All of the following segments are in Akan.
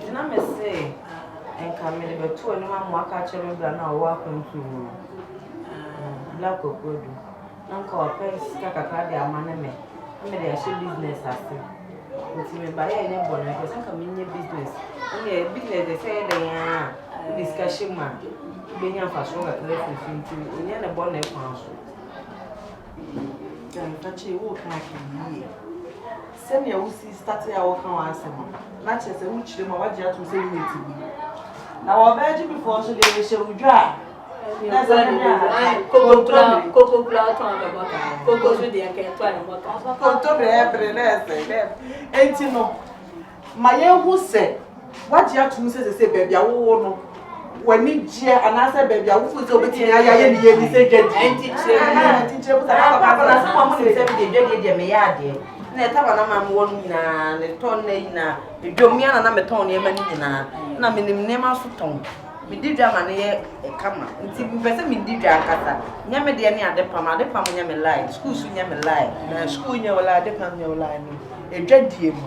Gyina me se nka mede bɛto anim ama waka akyerɛ me bra no a ɔwɔ akwantuo mu no eh, Black Okuadu na nka ɔpɛ sika kakra de ama ne me na mede ahyɛ business ase nti me ba yɛ nyɛ bɔne mepɛ sɛ nka menyɛ business ɛne business deɛ sɛ yɛ dɛn a wode sika hyɛ mu a wobɛnya mfasoɔ kakra firi so nti ɛnyɛ ne bɔne kwan so Nkakyɛ wo ka hwɛ yie. Sɛnea wosii startee a wɔka wɔn asɛm no, na kyerɛ sɛ wokyerɛ mu a wɔagye atom sɛ woyɛ tibuni. Na wɔ Belgium foɔ nso deɛ yɛhyɛ wo dwa a, na sɛ ne ne ahata, kontomire. Kokobrɛ a ɔtɔn bɛ bɔtɔ, koko nso deɛ nka ɛtɔ ne bɔtɔ. Kontomire ɛbere na ɛsɛ dɛ. Enti no, ma yɛnhu sɛ. Woagye atom sɛ ɛsɛ sɛ baabi a wowɔ no w'ani gyeɛ anaasɛ baabi a wofo sɛ wobɛtumi ayɛ ayɛ ne yɛni sɛ dwadie nti kyerɛ mu nti kyerɛ mu sɛ na papa na sɛ wɔn nim sɛ medeɛ dwadie deɛ meyɛ adeɛ na ɛtaba na ma mewɔ no nyinaa ne tɔn na nyinaa medwom mmea na na metɔn nneɛma no nyinaa na menim nneɛma so tɔn medi dwa ma no yɛ kama nti mpɛ sɛ medi dwa ankasa nyɛ me deɛ ne ade pam ade pam nyɛ me line sukuu so nyɛ me line na sukuu nyɛ wo line ade pam nyɛ wo line no ɛdwadie mu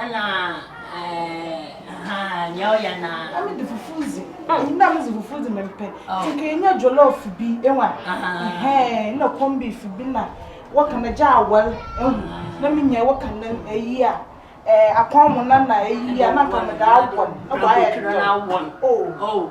Ana eh ha nea ɔyɛ na. Na me de fufu dzi mm. na me dzi fufu dzi me mpɛ oh. ti nka enya jollof bi ewa ɛhɛn na corn beef bi na wɔka na gya awɔl ehu na me nya wɔka na eyi a ɛɛ akɔn mo na na eyi a na nka me da awɔl na wɔayɛ dɔ oh. oh.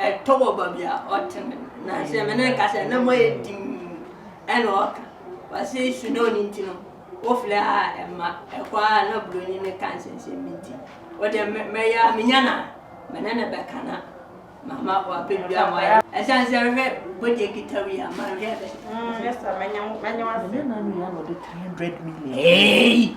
Ɛtɔ wɔ baabi a ɔte no, na sɛ me ne no kasa a, na mu ayɛ dinn, ɛna ɔka. Ɔse snow no nti no, wofrɛ a ɛmma, ɛkɔ a na buroni no ka nsɛnsɛm bi nti, wodeɛ mɛyɛ a menya no a, me ne no bɛka na mama wapɛ biribi ama wayɛ. Ɛsiane sɛ hwɛ bodeɛ kitaw yi a, manhwɛ bɛ. Mɛnyɛ wo ase. Ɛnyɛ nanu yi a na ɔde 300 million. Eeii!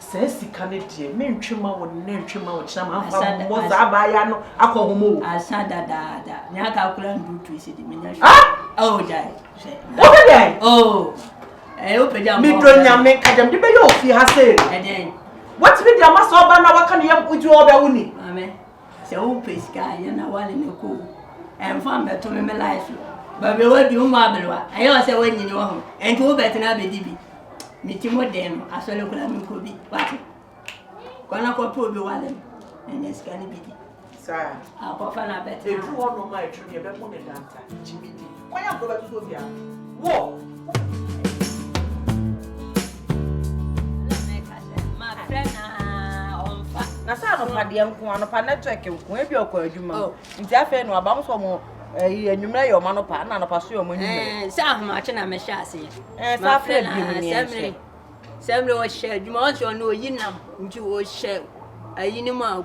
Saa sika no deɛ mentwe ma wo nnɛ ntwe ma wo kyena ma mfa mmɔ saa abaayewa no akɔ hom o. Asa dadaada nea aka akora ndu tu esi de menya hwɛ. Ah! Oh gyae hwɛ. Wopɛ dɛn? Oh. Ɛyɛ wopɛ gya mbɔ. Medɔ nyame ka gyam de bɛyɛ ofie ha sei. Ɛdɛn? Watumi de ama sɛ ɔba na waka ne yam odi ɔbɛ wo ni. Maame. Sɛ wo pɛ sika a yɛ na wale no kɔ o ɛnfa mbɛto me me life so Bawura wadu wo mu aberewa ɛyɛ ɔsɛ wanyini wɔ ho ɛnti wo bɛtena abɛdi bi Me ti mo den no asɔre koraa me nkɔ bi wate Kɔ na kɔ pɛ obi wale no na nya sika no bi di Saa. Akɔfa no abɛtena. Edu hɔ nom a ɛtwam yɛbɛmo ne dansa gyimi di. Kwan a bɔbɛ tutu obi a. Wɔ. Na sɛ anɔpa deɛ nko anɔpa network nko ebi ɔkɔ adwuma oh. nti afei no aba mo sɔ mo ɛyi eh, enyimrɛ yɛ ɔmo anɔpa ɛna anɔpa so yɛ ɔmo enyimrɛ. Eh, sɛ ahomakye na mɛhyɛ aseɛ. ɛɛ sɛ afei bi mu ni ɛsɛ. sɛmire ɔhyɛ adwuma ɔsɛ ɔno oyi nam nti ɔhyɛ ayi ne mu a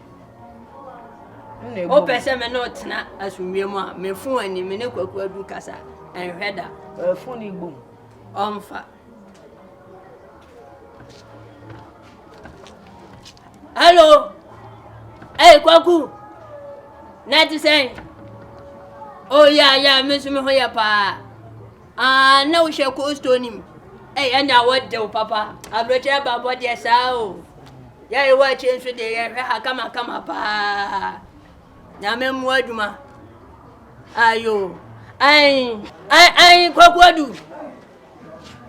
Wopɛ sɛ me ne wo tena asomdwoe mu a, me fon ani, me ne Kwaku Adu kasa. Ɛnhwɛ da. Ɔyɛ fon yi bom. Ɔmfa. Hello. Hey, Kwaku. Na ɛte sɛn? Oh, yeah, yeah, me nso me ho yɛ paa. Aah na wo hyɛ cold store nim. Ɛy ɛnna wɔdew papa aburokyerɛ ba bɔ deɛ saa o yɛ ewa akyire nso deɛ yɛhwɛ ha kama kama paa nyame mmoa adwuma ayo ayi ayi ayi kwakuadu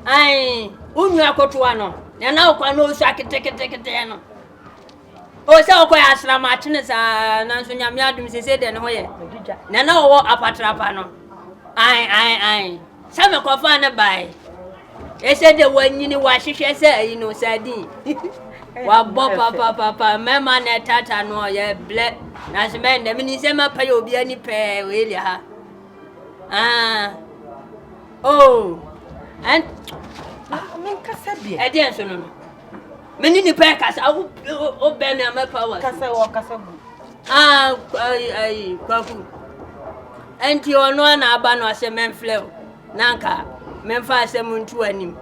ayi wo nua kotoa no nana okwa na osua ketekete keteɛ no Oh, sɛ ɔkɔɛ asram akye no saa, nanso Nyame adom sesei deɛ ne ho yɛ nea na ɔwɔ apatra pa no. Ae, ae, ae, sɛ mekɔfaa no bae. Ɛsɛ deɛ wanyini wahwehwɛ sɛ ayi no sardine. Wabɔ papapapa, mɛma na ɛtata no ɔyɛ blɛ, nanso mɛn dɛ menim sɛ mɛpɛ yɛ obi ani pɛɛ wɔ Elia ha. Ah, oh, ɛn, ɛdeɛ nso no no. Me ne nipa ɛkasa awo o bɛn na mɛ pa wa. Kasa wɔ kasa gu. Ah ayi ayi kwaku. Ɛnti ɔno a na aba no ɔsɛ mɛnflɛ o na nka mɛnfa asɛm ntu anim.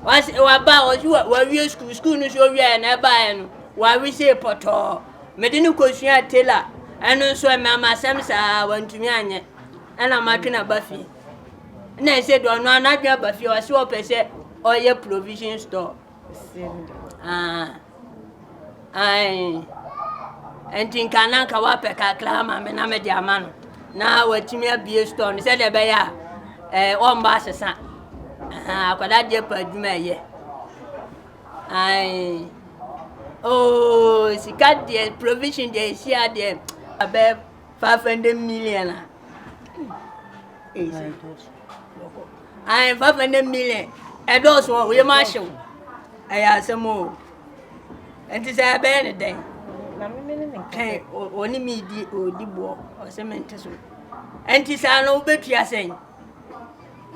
Wasi waba ɔsi wa wawie sukuu sukuu no so owia na ɛba yɛ no wawe se pɔtɔɔ. Mede ne kosua tela ɛno nso ɛmɛ ama asɛm saa wantumi anyɛ ɛna matwe na ba fie. na ɛsɛ dɛ ɔno ara n'adwene aba fie ɔse ɔpɛ sɛ ɔyɛ provision store ah ae nti nka na nka wapɛ kakra ama me na mede ama no na watumi abie store no sɛdeɛ ɛbɛyɛ a ɛɛ ɔmba asesa akwadaa deɛ pa adwuma ɛyɛ ae oo sika deɛ provision deɛ ɛsi adeɛ abɛɛ Five hundred million a. Ayi five hundred million ɛdɔɔso wɔ yɛ maa hyew ɛyɛ asɛm o nti sɛ ɛbɛyɛ ne dɛn ɛn ɔne mi di ɔdi boɔ ɔsɛ mi nte so nti saa no wobɛtua sɛn.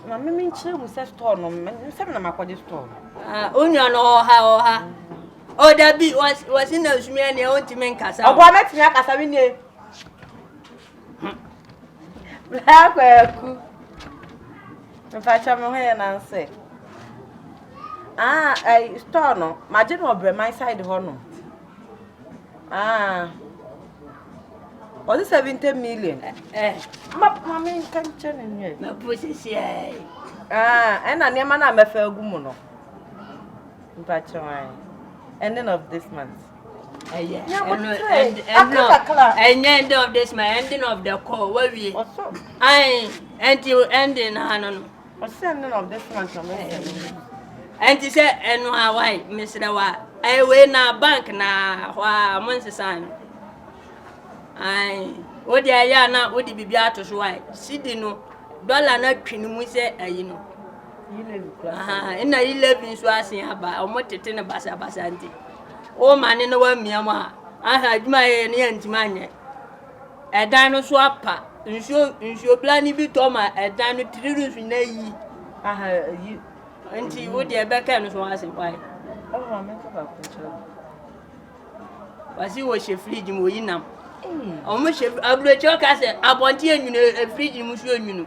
na mímí nkyerɛ mu sɛ store no nsɛm na makɔgye store no. Ah, onua no ɔha ɔha. Oh dabi wɔsi na nsumi ɛneɛ ontimi nkasa o. Ɔboa mɛtumi akasa me nie. Bla kwaku. Mpakyɛ me ho yɛ nanse. Ah, eh, store no, magye no ɔbrɛ my side hɔ no. Ah. Ɔse 70 million. Eh. eh. Ma ma me nka nkyɛ ne nwie. Mapo sisi ai. Ah, ɛna nneɛma no a mɛfa agu mu no. Mpakyɛw ae. Ending of this month. Ɛyɛ. Ɛno ɛnd ɛno ɛnyɛ ending of this month ending of the call wawie. Ɔsɔ. Ae ɛnti ending na ano no. Ɔsɛ ending of this month na mɛ sɛ. Ɛnti sɛ ɛno a wae mesrɛ wa ɛyɛ wei na bank na hɔ a mo nsesa no. Ae wo deɛ ɛyɛ a na wode biribi ato so wae sidi no dɔla no atwi no mu sɛ ayi no. Nna yi Levi nso asen aba, wɔn tete no basabasa nti, wɔma ne no wamia mu a, aha adwuma yɛ ne yɛntumi anyɛ. Ɛdan no so apa, nsuo nsuobla no bi tɔ ma ɛdan no tiri roof na yi, aha yi. Nti wo deɛ ɛbɛka no so asen wae. Wasi wɔhyɛ fridge mu, wɔyi nam. Wɔhyɛ aburokyerɛ ka sɛ abɔnten enwunu, fridge mu nso enwunu.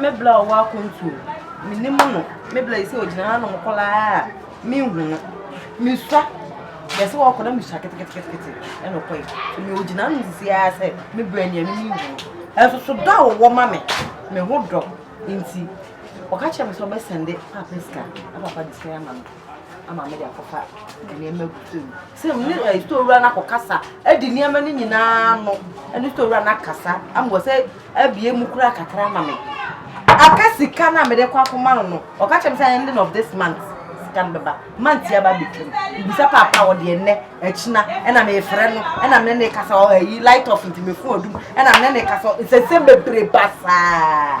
Me bla a ɔwɔ akwantu o, menim no. Me bla yi sɛ ɔgyina hanom koraa a, menhu no. Mesua. Yɛse ɔkɔ na mesua keteketekete ɛna ɔkɔe. So me ɔgyina hanom sisi ara sɛ me bla ni a menim no. Ɛso so dɔ a ɔwɔ ma me, me ho dɔ nti, ɔka kyerɛ me sɛ ɔbɛsɛnde papa sika na papa de sika yi ama me ama mede akɔfa nneɛma agu fam. Sɛ wo ne eh, store wura no akɔkasa adi nneɛma no nyinaa no ne store wura no akasa ama wɔ sɛ abie mu koraa kakra ama me aka sika no a mede kɔ akɔma no no ɔka kyerɛ me sɛ ending of this month sika no bɛba month yi aba bɛtwam mbisa paapa a wɔde ɛnnɛ akyina ɛna mefrɛ no ɛna mene ne kasa ɔyi light off nti mefo adum ɛna mene ne kasa nsɛnsɛm bebree ba saa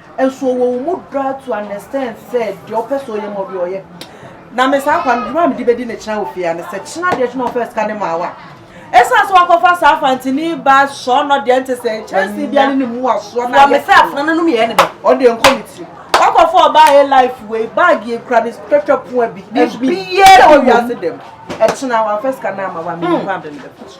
Nso ɔwɔ wo mu dɔ a to an extent sɛ deɛ ɔpɛ sɛ ɔyɛ ma obi ɔyɛ. Na me saa kwa no dwuma a mede bɛdi ne kyena wɔ fie ha ne sɛ kyena deɛ kyena ɔfɛ sika ne maa wo a ɛsiane sɛ wakɔfa saa fantini ba sɔ no deɛ nte sɛ kyɛnse bia ne ne mu asoɔ na me sɛ afena no nom yɛ ne dɛ ɔde nkɔ ne tiri wakɔfa ɔbaa yɛ life wei bag yɛ kura ne twɛtwɛ poa bi biara wɔ wiase dɛm ɛkyena wamfa sika no ama wa me nkɔ abɛn dɛm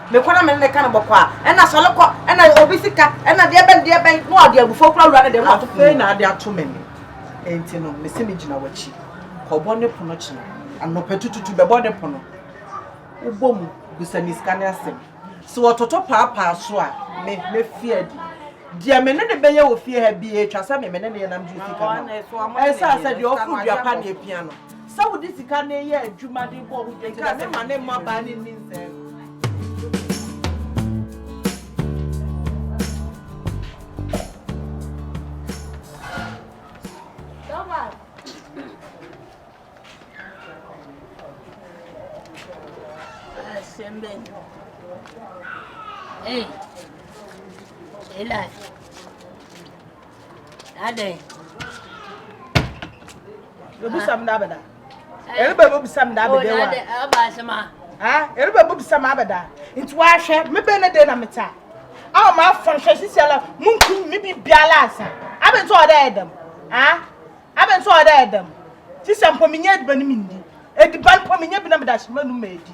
Me kɔ na me ne no ka no bɔkɔ a, ɛna sɔre kɔ, ɛna obi sika, ɛna deɛ bɛn deɛ bɛn, na ɔde abufuo kura wura no dɛm na ɔto pono mu. Afei na ade ato me nne, enti no mese megyina w'akyi, kɔbɔ ne pono kyena anɔpatututu, bɛbɔ ne pono, wobɔ mu bisa me sika no asɛm, sɛ ɔtoto paapaa so a, me mɛfiri adi. Deɛ me ne no bɛyɛ wɔ fie ha biara, ɛtwa sɛ me me ne no yɛ na megye sika ma no. Ɛnsaa sɛ deɛ ɔforo dua pa na ɛpia no. Sɛ wode sika no yɛ adwuma de bɔ ho dwetɛ na mema ne mmabaa no nyinsɛn no. Hey, Eli. Adɛn? Ebisa m da abɛda. Eriba ebo bisa m da abɛda wa. Ɔba asɛm a. Ah, eriba ebo bisa m abɛda. Nti wahwɛ, me bɛ ne de na meta. Awo ma afɔn hwɛ sisi ala mu nkum me bi biala asa. Abɛ nso ɔdɛ ɛdɛm. Ah, abɛ nso ɔdɛ ɛdɛm. Sisi mpo me nye ediba ne me ndi. Ediba mpo me nye bi na me da hyɛ ma nu ma edi.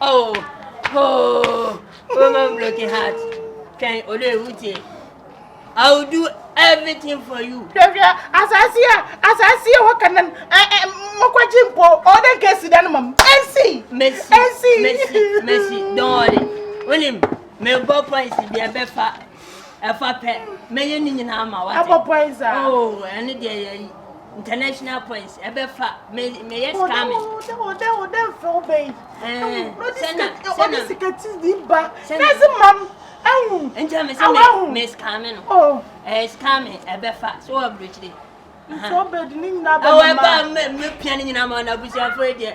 Oh, oh, woman broken heart. Can Ole Uche? I will do everything for you. Hwehwɛ asase a asase a wɔka no mokɔgye mpo ɔde nka asi da no ma m ɛnsi ɛnsi mesi mesi dɔɔre wonim mebɔ points deɛ bɛfa ɛfa pɛ mɛyɛ ne nyinaa ma wate ɛbɔ points a ah. oh ɛne deɛ yɛ yi international points ɛbɛfa mɛyɛ scamming ɔdɛ ɔdɛ ɔdɛ mfɛ ɔbɛ yi sɛna sɛna sika ti di ba sɛsi mam ɛhu nti ɛmɛ sɛ mɛ mɛ scamming no ɛɛ scamming ɛbɛfa so wɔ aburukyire nfɛ ɔbɛ di ne nyinaa bɛ mama ɛwɔ ɛbɛ mɛ mɛ pia ne nyinaa ma ɔna abusuafo yɛ deɛ.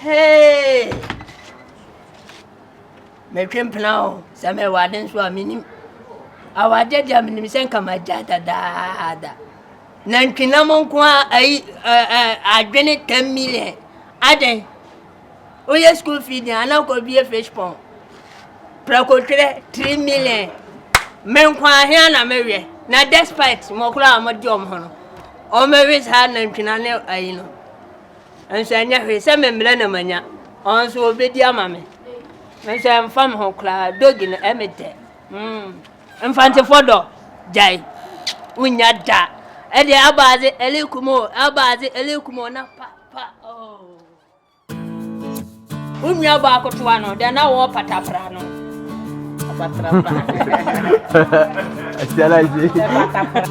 Hey! Metwe mpena o, sɛ mewɔ ade nso a menim. Awadeɛ deɛ menim sɛ nka magya dadaada. Nantwinam nko a ayi adwene ten million adɛn? Woyɛ school fee deɛ ana kɔ bie fish pond. Prɛkotwerɛ three million. Me nkwa ahia na mewɛ. Na despite mɔkora a wɔde wɔn ho no, wɔbɛwe saa nantwina ne ayi no. Nso ɛnyɛ hwee sɛ me mmerɛ na manya. Wɔn nso wɔbɛdi ama me. Nso ɛmfa me ho koraa. Dogi no ɛme dɛ. Mm. Mfantefoɔ dɔ gyae. Wonya da. Ɛdeɛ abaadze ɛlekumo abaadze ɛlekumo na pa pa oh. Wo nuabɔ akotoa no, dɛn na wɔrepata fra no? Asia na ase.